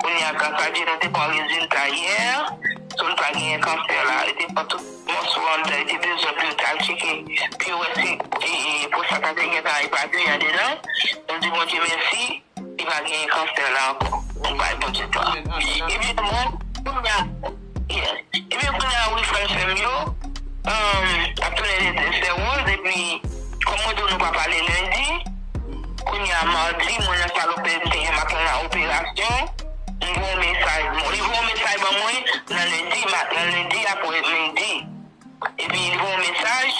Kounye a gras a Dye nou te pran rezilta yè, so li pa genyen kansè la. Yo te pran tout mòso anndan, yo te bezwen pou yo t'al tcheke pou yo wè si pwostat la te gentan epapiye andedan. Nou di Bondye mèsi, li pa genyen kansè la ankò. Nou bay Bondye glwa. Ebyen mwen, kounye a. Ebyen kounya a wi frèm sèm yo ap tounen lè de sè woz epi kòm mwen diw nou pa pale lendi kounya a mardi mwen nan sal operasyon te gen maten nan operasyon li voye yon mesaj bon li voye yon mesaj ban mwen nan lendi nan lendi a pou midi epi li voye yon mesaj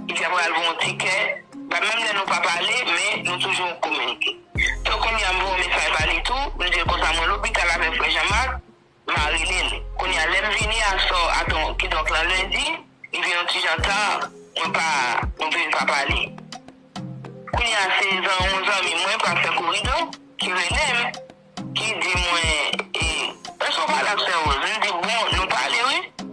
li di aprè al voye yon tikè ba menm lè nou pa pale men nou toujou an kominike so kounya a m voye yon mesaj ba li tou m dil konsa mwen lopital avèk frè Jean Marc Ma rele l. Kounye a, lè m vini aswè a, kidonk nan lendi, li vin yon ti jan ta, mwen pa, nou vin pa pale. Kounye a, se yon zanmi mwen, pastè Koridon, ki rele m, ki di mwen, e, èske w pale ak sè Woz? M di, bon, nou pale wi.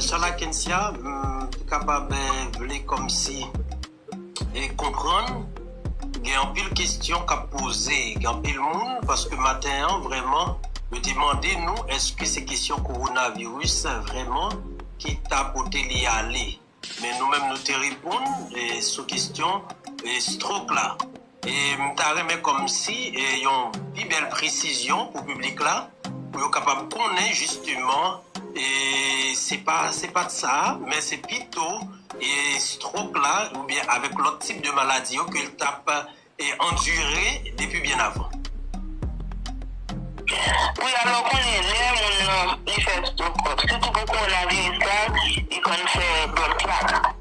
Shala Kencia m kapab vle komsi konprann gen anpil kesyon kap poze gen anpil moun paske maten an vreman yo te mande nou eske se kesyon korona viris vreman ki ta pote li ale men nou menm nou te reponn sou kesyon strok la. M ta renmen kòmsi yon pi bèl presizyon pou piblik la, pou yo kapab konnen jisteman se pa se pa t sa, men se pito strok la oubyen avèk lòt tip de maladi yo ke l t ap andire depi byen avan. Wi, alò ou konnen lè moun nan li fè strok, sitou pou kowonaviris la, li konn fè blood clot.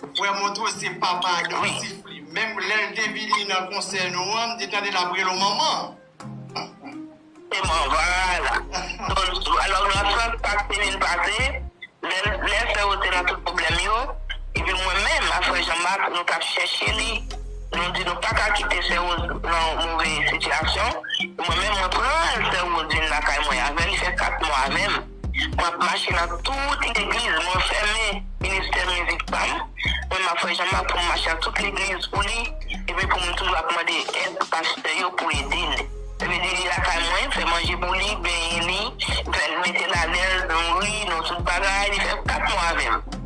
Frè Montrose se papa agressif li menm lèl te vini nan konsè nou an m te tande lap rele w manman. Se man vwala don alò nan sans sak te vin pase lè lè frè yo te nan tout problèm yo epi mwen menm ak frè Jean Marc nou tap chèche li nou di nou paka kite sè Rose nan move sitiyasyon mwen menm mwen pran frè Rose vin lakay mwen avèl li fè 4 mwa avèm Map mache nan tout legliz mwen fèmen ministè mizik pam men map fè janm map poum mache nan tout legliz pou li epi poum toujou ap mande èd pastè yo pou edel yo vini li lakay mwen fè manje pou li benyen li fèl metel alèz nouri nou tout bagay li fè 4 mwa avèm.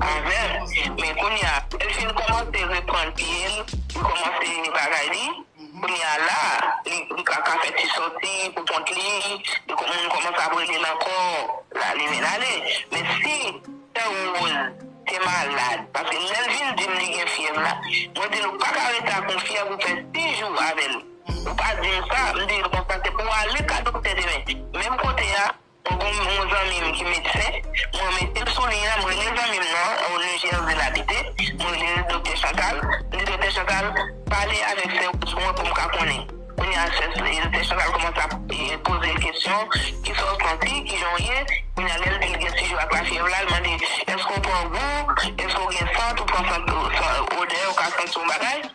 Avèl men kounya lèl fin kòmanse reprann pyel li kòmanse bagay li kounya la li ka ka fè ti sòti pou kont li moun kòmanse ap relel ankò la li vin ale men si sè Rose te malad paske lèl vin dim li gen fyèv la mwen dil ou paka rete ak yon fyèv ou fè 6 jou avèl ou pa dim sa m dil konsa se pou ale ka doktè demen menm kote a Mwen gen yon zanmi m ki medsen, mwen mete l sou liy la, m rele zanmi m nan, yon New Jersey l abite, m rele l Doktè Chantal, m di Doktè Chantal, pale avèk sè Rose mwen pou m ka konnen. Kounye a sè Doktè Chantal kòmanse ap poze l kesyon, kisa w santi, kijan w ye, kounye a lè l di l gen ti jou ak lafyèv la, l mande, èske w pran gou, èske w gen sant, ou pran sant, odè, ou ka santi yon bagay.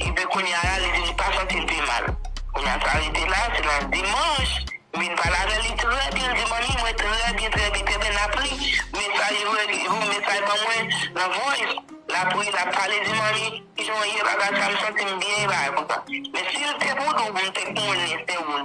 Ebyen kounya la li vin li pa santil pi mal kounya sa rete la se nan dimanch m vin pale avèl li trè byen li di manmi mwen trè byen trè byen trè byen lap li mesaj voum mesaj ban mwen nan voice lap ri lap pale di manmi kijan w ye bagay sa m santim byen bagay konsa men sil te pou nou m te konnen se ou l.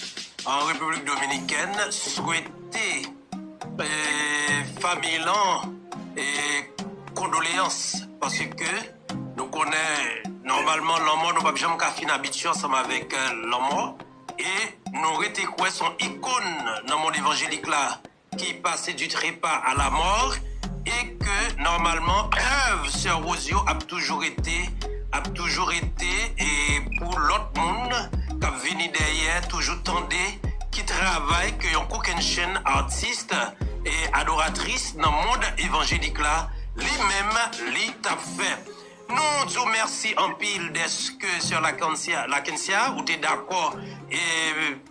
An Repiblik Dominikèn swete famiy lan kondoleyans paske nou konnen nòmalman lanmò nou pap janm ka fin abitye ansanm avèk lanmò e nou rete kwè son ikon nan mond evanjelik la. ki pase du trepa a la mort e ke nòmalman èv sè Rose yo ap toujou rete ap toujou rete e pou lòt moun kap vini dèyè toujou tande ki travay ke yon kokennchenn artist e adoratris nan mond evanjelik la li menm li tap fè nou di w mèsi anpil dèske sè Lakencia ou te dakò e.